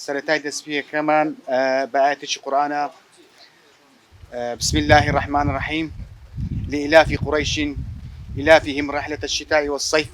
سەرەتای دەسپێکەمان بە ئایەتێکی قورئانە، بسم اللە الرحمن الرحیم، لإیلاف قریش ایلافهم رحلة الشتاء والصیف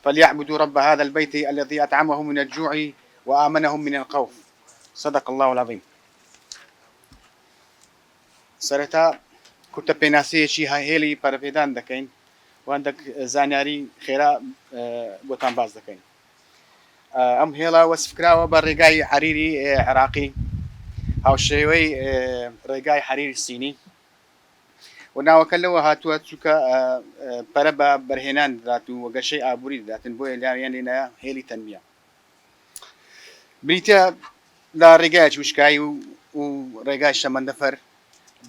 فلیعبدوا رب هذا البیت الذی اطعمهم من الجوع وآمنهم من الخوف صدق اللە العظیم. سەرەتا کورتە پێناسەیەکی هێڵی پەرەپێدان دەکەین و هەندێک زانیاری خێرا بۆتان باس دەکەین. ئەم هێڵە وەسفکراوە بە ڕێگای حەریری عێراقی هاوشێوەی ڕێگای حەریری سینی و ناوەکە لەوە هاتووە چووکە پەرە بە بەرهێنان دات و وەگەشەی ئابووری دەداتن بۆیە لاویان لێنە هێلی تەنبیە بریتە لە ڕێگای چوشکایی و و ڕێگای شەمەندەفەر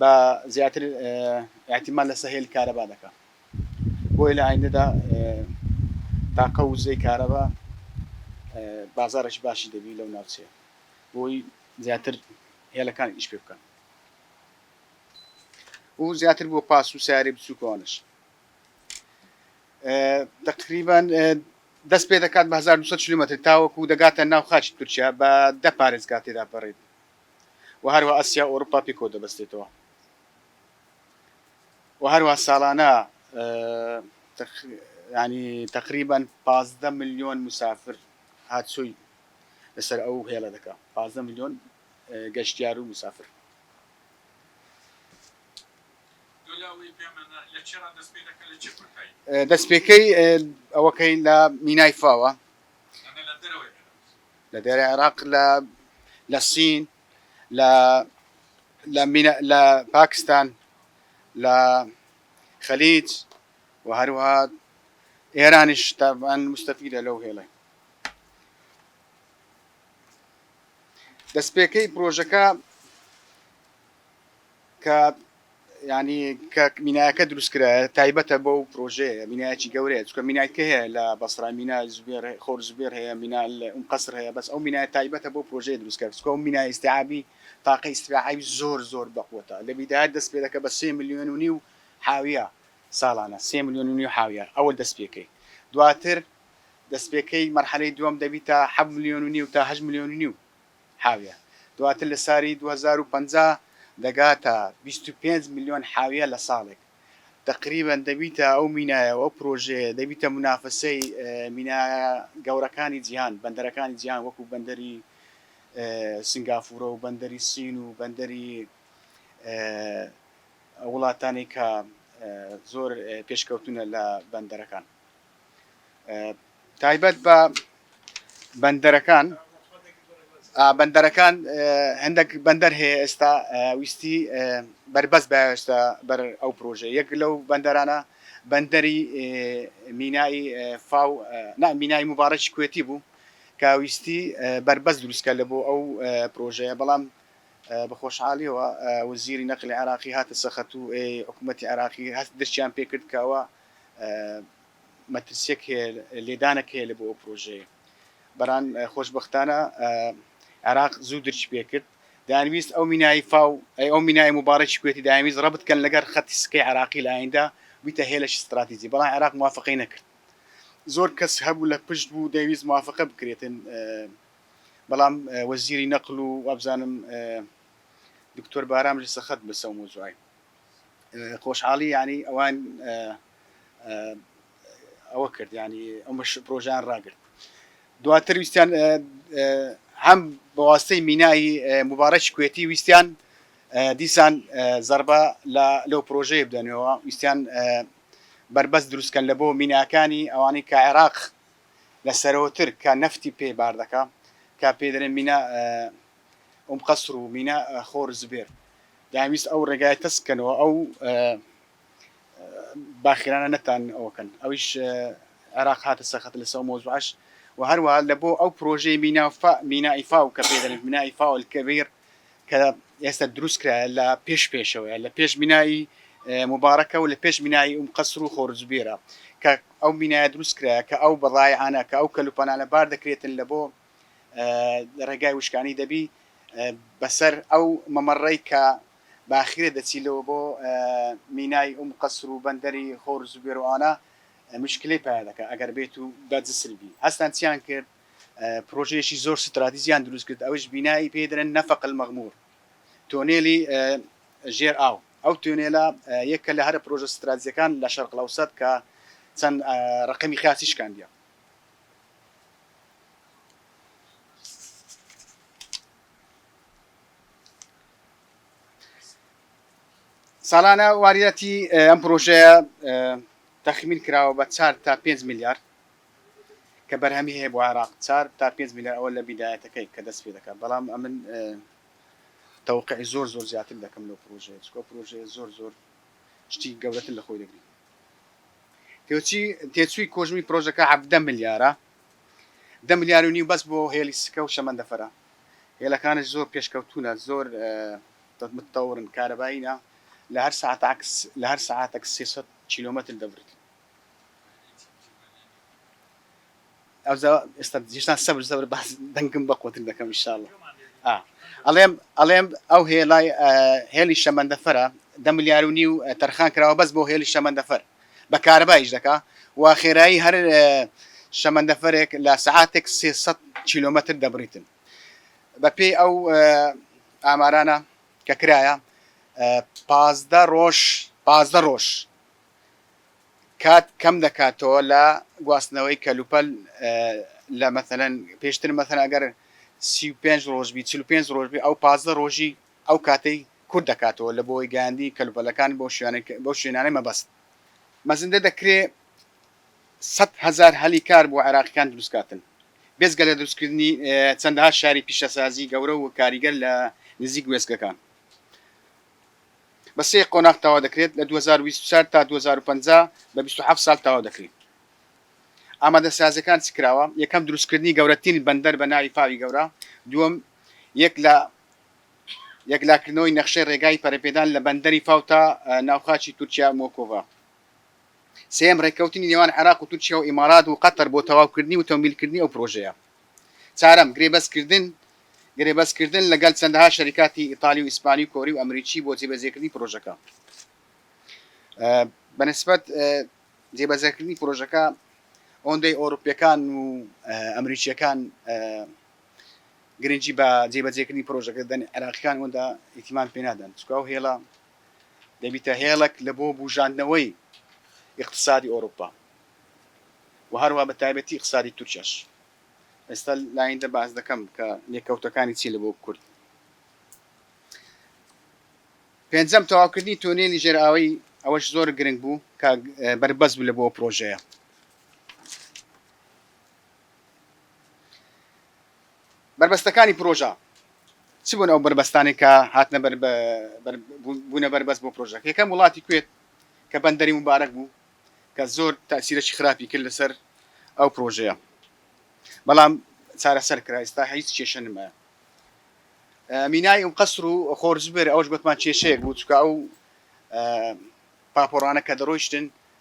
بە زیاتر احتیمال لەسە هێل کارەبا دەکە بۆیە لە ئایندەدا تاقە وزەی کارەبا بازاڕێکی باشی دەبی لەو ناوچەیە بۆی زیاتر هێلەکان ئیش پێ بکەن و زیاتر بۆ پاس و سیارێ بچووکەوانش تقریبان دەست پێ دەکات بە 1200 کیلومتر تاوەکو و دەگاتە ناو خاچ تورکیا بە دە پارێزگا تێدا بەڕێت و هەروە ئەسیا ئەوروپا پێکەوە دەبستێتەوە و هەروا ساڵانە تەقریبەن پازدە ملیۆن مسافر هاتچۆی لەسەر ئەو هێڵە دەکا پازدە ملیۆن گەشتیار و مسافر. دەستپێکەی ئەوەکەی لە مینای فاوە لە دێرە عێراق لە سین لە لە مینا لە پاکستان لە خەلیج و هەروەها ئێرانیش تابان مستەفیدە لەو هێڵێ دەستپێکەی پرۆژەکە کە یانی کە مینایەکە دروستکرا تایبەتە بۆ و پرۆژەیە مینایەکی گەورەیە چکە مینایکە هەیە لە بەسرا مینا زوێر خۆر زوێر هەیە مینا ئەم قەسر هەیە بەس ئەو مینای تایبەتە بۆ پرۆژەیە دروستکە چکە و مینا ئیسعابی تاقە ئیسراعی زۆر زۆر بەقوتە لە بیداات دەست پێ دەکە بە سێ میلیۆن و نیو حاویە ساڵانە سێ میلیۆن و نیو حاویە ئەوە دەست پێکەی دواتر دەستپێکەی مەرحەلەی دوم دەبیتە حە ملیۆن و نیو تا هە ملیۆن و نیو حاویە دواتر لە ساری دوو هەزار و پەنجا دەگاتە بیست و پێنج ملیۆن حاویە لە ساڵێک تەقریبەن دەبیتە ئەو مینایە و ئەو پرۆژەیە دەبیتە منافەسەی مینایە گەورەکانی جیهان بەندەرەکانی جیهان وەکو بەندەری سنگافورە و بەندەری سین و بەندەری وڵاتانی کە زۆر پێشکەوتونە لە بەندەرەکان تایبەت بە بەندەرەکان بەندەرەکان هەندێک بەندەر هەیە ئێستا ویستی بەربەست باشتە بەر ئەو پرۆژە یەک لەو بەندەرانە بەندەری مینایی فاو نا مینای مبارەکی کوێتی بوو کە ویستی بەربەست دروستکە لە بۆ ئەو پرۆژەیە بەڵام بە خۆشحالیەوە وزیری نەقلی عراقی هاتە سەخەت و حکوومەتتی عراقی هەست درچیان پێکرد کەەوە مەترسیەک هەیە لێدانەک هەیە لە بۆ ئەو پرۆژەیە بەران خۆشببختانە عێراق زوو درچ پێ کرد دانویست ئەو مینایی فاو ئەی ئەو مینای مبارەی کوێتی داویست ڕە بکەن لەگەر خەتی سکەی عراقی لایەندا بیتە هێلش استراتیزی بەڵام عراق موافقی نەکرد زۆر کەس هەبوو لە پشت بوو دەویست موافقە بکرێتن بەڵام وەزیری نەقل و وابزانم دکتۆر بارام لە سەخت بەسەو مۆزوعی خۆشحاڵی ینی ئەوان ئەوە کرد ینی ئەمەش پرۆژیان ڕاگرت دواتر ویستیان هەم بەواستەی مینایی مبارەکی کوێتی ویستیان دیسان زربە لە لەو پرۆژەیە بدەنەوە ویستیان بربەست دروستکەن لە بۆ میناکانی ئەوانەی کە عێراق لە سەرەوەتر کە نەفتی پێ بار دەکا کە پێ دەێن مینا ئەم قەسر و مینا خۆر زبێر داویست ئەو ڕێگای تەسکەنەوە ئەو باخیرانە نەتان ئەوە کەن ئەویش عێراق هاتە سەخت لەسە ئەو مۆزوعش و هەروەها لە بۆ ئەو پرۆژەی مینا فا مینا ئیفا و کە پێ دەڵێن مینا ئیفا و الکبیر کە ئێستا دروست کرایە لە پێش پێشەوەیە لە پێش مینایی مبارەکە و لە پێش مینایی ئوم قەسر و خۆرجبیرە کە ئەو مینایە دروست کرایە کە ئەو بەڵایانە کە ئەو کەلوپەنانە بار دەکرێتن لە بۆ ڕێگای وشکانی دەبی بەسەر ئەو مەمەڕی کە باخیرە دەچیلەوە بۆ مینای ئوم قەسر و بەندەری هۆر زوبێر و ئانا مشکلەی پەیا دەکا ئەگەر بێت و بە جسر بی هەستان چیان کرد پرۆژەیەکی زۆر ستراتیجیان دروست کرد ئەویش بینای پێی دەرێن نەفەق المغمور تۆنێلی ژێر ئاو ئەو تۆنێلە یەکە لە هەرە پرۆژە ستراتیجەکان لە شەرق لەوسەت کە چەند ڕقمی خاچی شکاندیە ساڵانە واریاتی ئەم پرۆژەیە تەخمین کراوە بە چار تا پێنج میلیارد کە بەرهەمی هەیە بۆ عێراق چار تا پێنج میلیارد ئەوە لە بیدایەتەکەی کە دەست پێ دەکات بەڵام ئەمن تەوقعی زۆر زۆر زیاتر دەکەم لەو پرۆژەیە چکۆ پرۆژەیە زۆر زۆر شتی گەورەتر لە خۆی دەگری تێچی تێچووی کۆژمی پرۆژەکە حەفدە میلیارە دە ملیار و نیو بەس بۆ هێڵی سکە و شەمەندەفەرە هێڵەکانش زۆر پێشکەوتوونە زۆر متتەوڕن کارەباییە لە هەر ساعت عکس لە هەر ساعتەک سێ سەد کیلۆمەتر دەبرێت ئەوزا ئێستا جیشتان سەبر سەبر باز دەنگم بە قوتر دەکەم انشاءالله ئەڵێم ئەڵێم ئەو هێڵای هێڵی شەمەندەفەرە دە ملیار و نیو تەرخان کراوە بەس بۆ هێڵی شەمەندەفەر بە کارەبا ئیش دەکا و خێرایی هەر شەمەندەفەرێک لە سەعاتێک سێ سەد کیلۆمەتر دەبریتن. بە پێی ئەو ئامارانە کە کرایە پازدە ڕۆژ پازدە ڕۆژ کات کەم دەکاتەوە لە گواستنەوەی کەلوپەل لە مەسەلەن پێشتر مەسەن ئەگەر سی و پێنج ڕۆژبی چل و پێنج ڕۆژبی ئەو پازدە ڕۆژی ئەو کاتەی کورت دەکاتەوە لە بۆی گەیاندنی کەلوپەلەکان بۆ بەو شوێنانەی مەبەست مەزندە دەکرێ سەد هەزار هەلی کار بۆ عێراقیکان دروست کاتن بێجگە لە دروست کردنی چەندەها شاری پیشەسازی گەورە و کاریگەر لە نزیک وێستگەکان بە سێ قۆناغ تەوا دەکرێت لە دوو هەزار و بیست و چوار تا دوو هەزار و پەنجا بە بیست و حەفت ساڵ تەوا دەکرێت ئامادە سازەکان چ کراوە یەکەم دروست کردنی گەورەترین بەندەر بە ناوی پاوی گەورە دووەم یەک لە یەکلاکردنەوەی نەخشەی رێگای پەرەپێدان لە بەندەری فاو تا ناوخاچی تورکیا موکوڤا. سێیەم، رێککەوتنی نێوان عێراق و تورکیا و ئیمارات و قەتەر بۆ تەواوکردنی و تەمویلکردنی ئەو پرۆژەیە. چارەم، گرێبەستکردن گرێبەستکردن لەگەل چەندەها شەریکاتی ئیتالی و ئیسپانی و کۆری و ئەمریکی بۆ جێبەجێکردنی پرۆژەکە. بەنسبەت جێبەجێکردنی پرۆژەکە ئەوەندەی ئەوروپییەکان و ئەمریکییەکان گرنگی بە جێبەجێکردنی پرۆژەکە دەدەن، عێراقییەکان ئەوەندە ئیتیمان پێ نادەن، چونکە ئەو هێڵە دەبیتە هێڵێک لە بۆ بووژاندنەوەی ئیقتسادی ئەوروپا و هەروەها بە تایبەتی ئیقتسادی تورکیاش. ئێستا لایندە باس دەکەم کە لێکەوتەکانی چی لە بۆ کورد. پێنجەم تەواوکردنی تۆنێلی ژێرئاوەی ئەوەش زۆر گرنگ بوو کە بەربەست بوو لە بۆ پرۆژەیە. بەربەستەکانی پرۆژە چ بوون ئەو بەربەستانەی کە هاتنە بەر بوونە بەربەست بۆ پرۆژەکە یەکەم وڵاتی کوێت کە بەندەری مبارەک بوو کە زۆر تاسیرەکی خراپی کرد لەسەر ئەو پرۆژەیە بەڵام چارەسەر کرا ئێستا هیچ کێشە نمایە مینای ئەو قەسر و خۆرجبر ئەوش گوتمان کێشەیەک بوو چکە ئەو پاپۆڕانە کە دەڕۆیشتن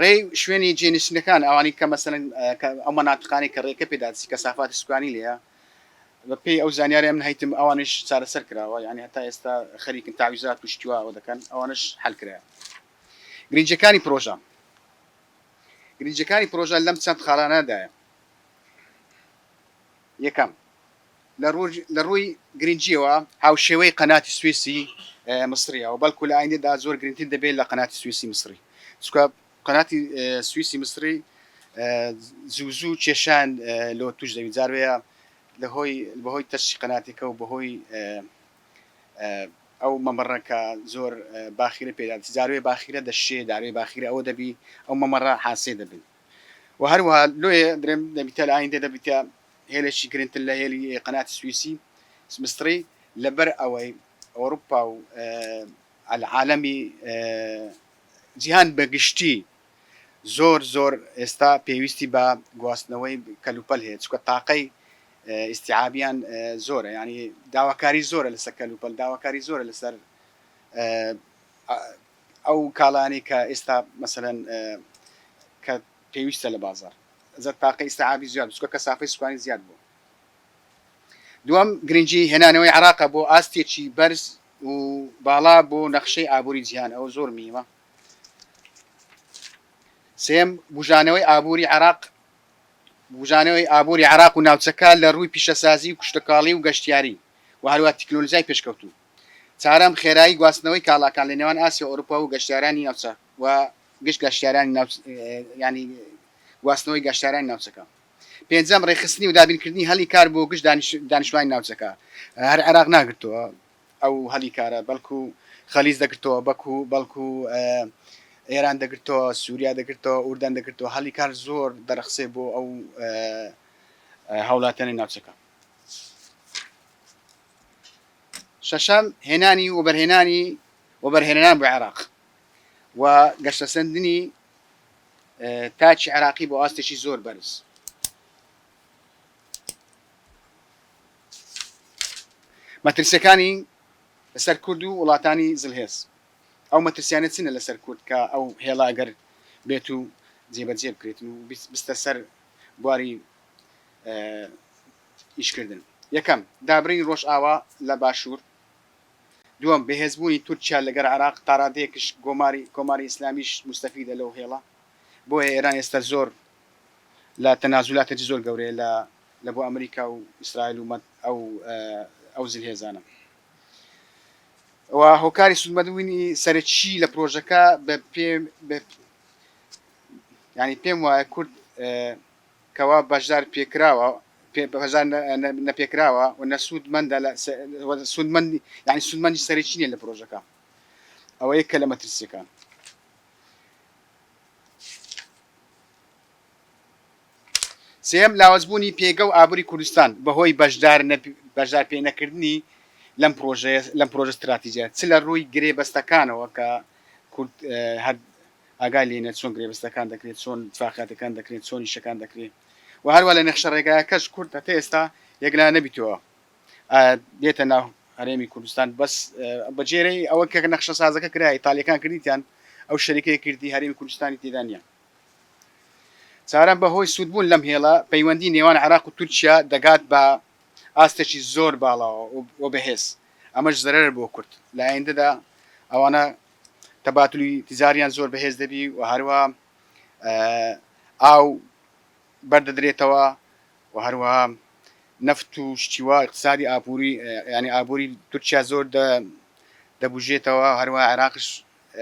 ڕێی شوێنی جێنشینەکان ئەوانی کە مەسەن ئەو مەناتقانی کە ڕێکە پێداسی کەسافاتی سوکانی لێە بەپی ئەو زانیاری من هەیتم ئەوانش چارەسەر کراوە یعنی هەتا ئێستا خەریکن تاویزات و شتیواوە دەکەن ئەوانش حلکرا گرنجەکانی پرۆژە گرنجەکانی پرۆژە لەم چەند خاڵانەدایە یەکەم لە ڕووی گرنگییەوە هاوشێوەی قەناتی سوێسی میسرییە و بەڵکو لە ئایندەدا زۆر گرنگتر دەبێت لە قەناتی سوێسی میسری، چونکە قەناتی سوێسی میسری زوو زوو کێشان لۆ تووش دەبێت، جار وەیە بەهۆی تەشی قەناتەکە و بەهۆی ئەو مەمەڕە کە زۆر باخیرە پێدا دەچێت، جار وەیە باخیرە دەشێت، جار وەیە باخیرە ئەوە دەبێت، ئەو مەمەڕە حاسێ دەبێت و هەروەها لۆیە دەبێت لە ئایندە دەبێتە هێلێکی گرنگتر لە هێلی قەنات سویسی سمستڕی لەبەر ئەوەی ئەوروپا و العالەمی جیهان بە گشتی زۆر زۆر ئێستا پێویستی بە گواستنەوەی کەلوپەل هەیە چکە تاقەی ئیسیعابیان زۆرە ینی داواکاری زۆرە لەسەر کەلوپەل داواکاری زۆرە لەسەر ئەو کاڵانی کە ئێستا مەسەن کە پێویستە لە بازاڕ زە تاقەی ئیستعابی زیاد بچکە کە سافەی سوکانی زیاد بووە دووەم گرنگی هێنانەوەی عراقە بۆ ئاستێکی بەرز و باڵا بۆ نەخشەی ئابووری جیهان ئەوە زۆر میوە سێم بژانەوەی ئابووری عراق بژانەوەی ئابووری عراق و ناوچەکە لە ڕووی پیشەسازی و کوشتەکاڵی و گەشتیاری و هەروە تەکنۆلزای پێشکەوتوو چارەم خێرایی گواستنەوەی کاڵاکان لە نێوان ئاسیا ئۆروپا و گەشتارانی ناوچە و گشت گەشتیارانی ناوچەکەیانی گواستنەوەی گەشتارانی ناوچەکە. پێنجەم، ڕێکخستنی و دابینکردنی هەلی کار بۆ گشت دانیشتوانی ناوچەکە، هەر عێراق ناگرتەوە ئەو هەلی کارە، بەڵکو خەلیج دەگرتەوە، بەکو بەڵکو ئێران دەگرتەوە، سوریا دەگرتەوە، ئوردەن دەگرتەوە، هەلی کار زۆر دەرەخسێ بۆ ئەو هاوڵاتیانی ناوچەکە. شەشەم، هێنانی وەبەرهێنانی وەبەرهێنەران بۆ عێراق، و گەشەسەندنی تاکی عێراقی بۆ ئاستێکی زۆر بەرز مەترسیەکانی لەسەر کورد و وڵاتانی زلهێز ئەو مەترسیانە چنە لەسەر کورد کە ئەو هێڵا ئەگەر بێت و جێبەجێ بکرێتن و بستە سەر بواری ئیشکردن یەکەم دابرین ڕۆژ ئاوا لە باشوور دووەم، بەهێزبوونی تورکیا لەگەر عێراق، تاڕادەیەکش گۆماری کۆماری ئیسلامیش موستەفیدە لەو هێڵە، بۆیە ئێران ئێستا زۆر لە تەنازولاتێکی زۆر گەورەیە لە لە بۆ ئەمریکا و ئیسرائیل و مەت ئەو ئەو زلهێزانە. و هۆکاری سودمەدووینی سەرەکی لە پرۆژەکە بە پێ بە یانی پێم وایە کورد کەوا بەشدار پێکراوە بەشدار نەپێکراوە و نە سوودمەندە لە سوودمەند یعنی سوودمەندی سەرەکی نیە لە پرۆژەکە ئەوە یەکە لە مەترسیەکان سێم لاوەزبوونی پێگە و ئابووری کوردستان بەهۆی بەشدار بەشدار پێ نەکردنی لەم پرۆژەیە لەم پرۆژە استراتیجە چ لە ڕووی گرێ بەستەکانەوە کە کورد ئاگای لێنە چۆن گرێبەستەکان دەکرێ، چۆن اتفاقیاتەکان دەکرێن، چۆن ئیشەکان دەکرێ و هەروا لە نەخشە ڕێگایەکەش کورد هەتا ئێستا یەکلا نەبیتەوە ئا بێتە ناو هەرێمی کوردستان بەس بە جێرەی ئەوە کە نەخشە سازەکە کرا ئیتالیەکان کردیتیان ئەو شەریکەی کردی هەرێمی کوردستانی تێدا نیە چارەم بە هۆی سوودبوون لەم هێڵە پەیوەندی نێوان عراق و تورکیا دەگات بە ئاستێکی زۆر باڵاوە و بەهێز ئەمەش زەرەر بۆ کورد لە ئایندەدا ئەوانە تەباتولی تیجاریان زۆر بەهێز دەبی و هەروە ئاو بەردەدرێتەوە و هەروە نەفت و شتیوا اقتصادی ئاپوری ینی ئابووری تورکیا زۆر دەبژێتەوە هەروە عێراقش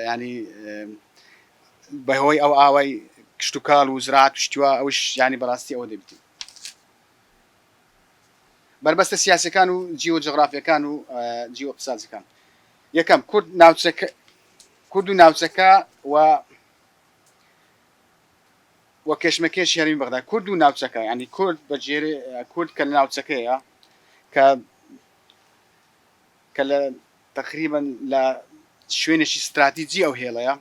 ینی بەهۆی ئەو ئاوای کشتتوکال و زراعات شتیوا ئەوش ینی بەڕاستی ئەوە دەبیتی بەربەستە سیاسەکان و جیۆ جغرافیەکان و جیۆ اقتصادەکان یەکەم، کورد ناوچەکە کورد و ناوچەکە و و کێشمەکێش هەرمی بەغدا کورد و ناوچەکە ینی کورد بە جێرێ کورد کە لە ناوچەکەیە کە کە لە تقریبن لە شوێنێکی استراتیجی ئەو هێڵەیە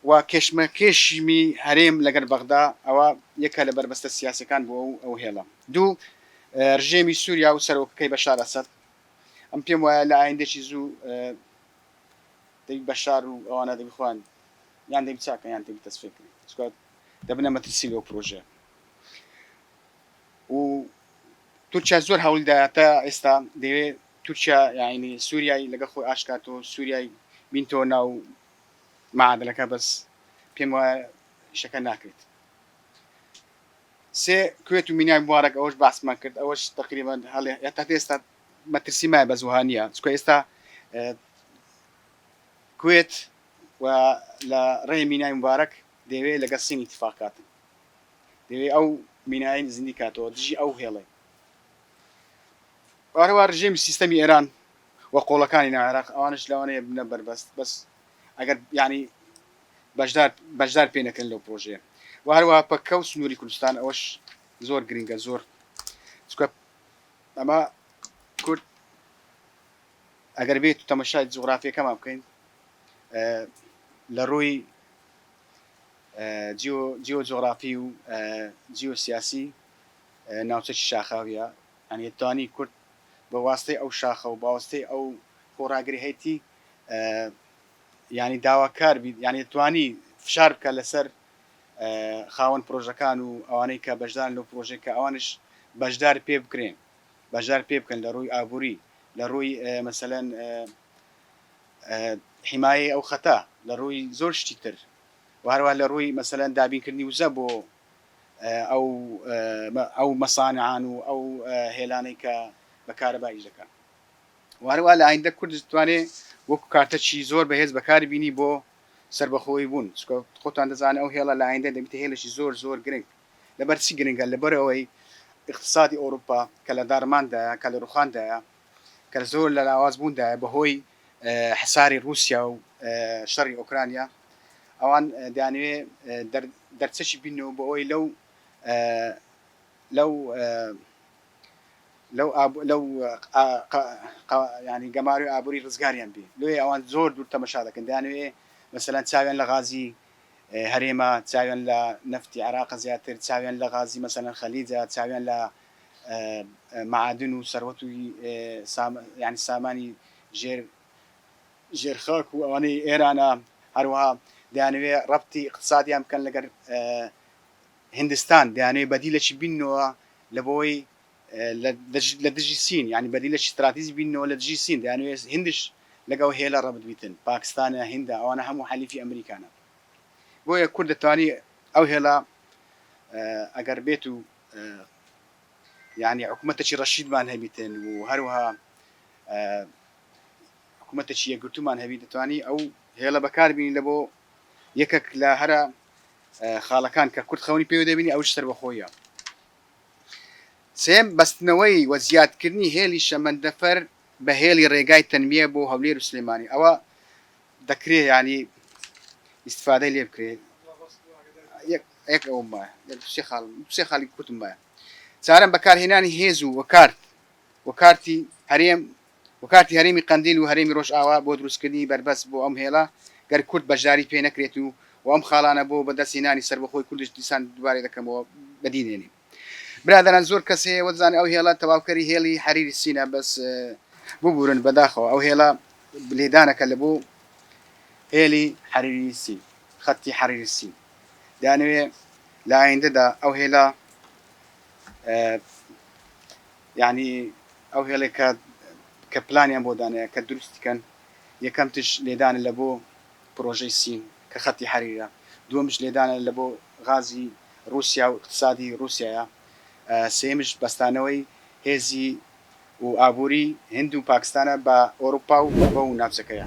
و کێشمە کێشیمی هەرێم لەگەر بەغدا ئەوە یەکە لە بەربەستە سیاسەکان بۆ ئەو هێڵە دوو ڕژێمی سووریا و سەرۆکەکەی بە شارەسەر ئەم پێم وایە لە ئایندەشی زوو دەبی بەشار و ئەوانە دەبی خوان یان دەبی چاکە یان دەبی تەسفێکرد چکات دەبنە مەترسی لەو پرۆژە و تورکیا زۆر هەوڵدایەتە ئێستا دەوێت تورکیا یاینی سووریای لەگە خۆی ئاشکات و سووریای بینتۆ ناو معادلەکە بەس پێم وایە شەکە ناکرێت سێ کوێت و مینای موبارەک ئەوەش باسمان کرد ئەوەش تەقریبەن هەڵێ هەتا ئێستا مەترسی مایە بەس وەها نییە چکە ئێستا کوێت و لە ڕێ مینای موبارەک دەوێ لەگەڵ سینی تفاقاتن دەوێ ئەو مینای نزنی کاتەوە دژی ئەو هێڵێ وارەوە ڕژێمی سیستەمی ئێران و قۆڵەکانی ناعێراق ئەوانش لەوانەیە بنە بەربەست بەس ئەگەر یعنی بەشدار بەشدار پێ نەکەن لەو پرۆژەیە و هەروەها پەککە و سنووری کوردستان ئەوەش زۆر گرنگە زۆر چکە ئەمە کورد ئەگەر بێت و تەمەشای جوغرافیەکەمان بکەین لە ڕووی جیۆ جۆغرافی و جیۆ سیاسی ناوچەکی شاخاویە ئەنێ توانی کورد بە واستەی ئەو شاخە و باوەستەی ئەو خۆڕاگری هەیتی یانی داواکار بیت یانی توانی فشار بکە لەسەر خاوەن پرۆژەکان و ئەوانەی کە بەشدارن لەو پرۆژەی کە ئەوانش بەشدار پێ بکرێن بەشدار پێ بکەن لە ڕووی ئابووری لە ڕووی مەسەلەن حیمایە ئەو خەتە لە ڕووی زۆر شتی تر وهروە لە ڕووی مەسەلەن دابینکردنی وزە بۆ ئەو ئەو مەسانعان و ئەو هێلانەی کە بەکارەبایش دەکەن و هەروا لە ئایندە کورد دەتوانێ وەکو کارتەکی زۆر بەهێز بەکاری بینی بۆ سەربەخۆی بوون چکە خۆتان دەزانن ئەو هێڵە لە ئایندە دەبیتە هێلەکی زۆر زۆر گرنگ لەبەر چی گرنگە لەبەر ئەوەی اقتصادی ئەوروپا کە لە داڕماندایە کە لە ڕوخاندایە کە زۆر لە لاواز بووندایە بەهۆی حساری رووسیا و شەڕی ئۆکرانیا ئەوان دانوێ دەرچەکی بینەوە بۆ ئەوەی لەو لەو لەو ئاب لەو قا قا قا یانی گەمارۆی ئابووری ڕزگاریان بێ لۆیێ ئەوان زۆر دوور تەمەشا دەکەن دەیانەوێ مەسەلەن چاویان لە غازی هەرێمە چاویان لە نەفتی عێراقە زیاتر چاویان لە غازی مەسەلەن خەلیجە چاویان لە معادن و سەروەت و سام یانی سامانی ژێر ژێر خاک و ئەوانەی ئێرانە هەروەها دەیانەوێ ڕەبتی ئیقتسادیان بکەن لەگەر هندستان دەیانەوێت بەدیلەکی بیننەوە لەبەوەی لە دژی سین یانی بەدیلەکی ستراتیجی بیننەوە لە دژی سین دەیانەوێت هندش لەگەڵ هێلە ڕەبت بیتن پاکستانە هندە ئەوانە هەموو حەلیفی ئەمریکانە بۆیە کورد دەتوانی ئەو هێلە ئەگەر بێت و یعنی حکوومەتێکی ڕەشیدمان هەبیتن و هەروها حکوومەتێکی یەکگرتومان هەبی دەتوانی ئەو هێڵە بەکاربیین لە بۆ یەکەک لە هەرە خاڵەکان کە کورد خەونی پێوە دەبینی ئەوش سەربەخۆیە سێم بەستنەوەی وە زیادکردنی هێلی شەمەندەفەر بە هێلی ڕێگای تەنمیە بۆ هەولێر و سلێمانی ئەوە دەکرێ ینی ئیسفادەی لێ بکرێت ئەک ئەو سێ خاڵی کوتم بە چارم بەکارهێنانی هێز و وەکارت وەکارتی هەرێم و کارتی هەرێمی قەندیل و هەرێمی ڕۆژئاوا بۆ دروستکردنی بەربەست بۆ ئەم هێڵە گەر کورد بەشداری پێ نەکرێت و و ئەم خاڵانە بۆ بەدەست هێنانی سەربەخۆی کوردش دیسان دوبارەی دەکەمەوە بەدی دێنین برادەران زۆر کەس هەیە وەدزانێ ئەو هێڵە تەواوکەری هێڵی حەریری سینە بەس ببورن بەداخەوە ئەو هێڵە لێدانەکە لە بۆ هێلی حەریری سین خەتی حەریری سین دانوێ لە ئایندەدا ئەو هێڵە یەعنی ئەو هێڵێ کە کە پلانیان بۆ دانێە کە دروستی کەن یەکەم تش لێدانە لە بۆ پرۆژەی سین کە خەتی حەریرە دووەمش لێدانە لە بۆ غازی روسیا و اقتسادی روسیایە سێیەمش بەستانەوەی هێزی و ئابوری هند و پاکستانە بە ئۆروپا و بە و ناوچەکەیە.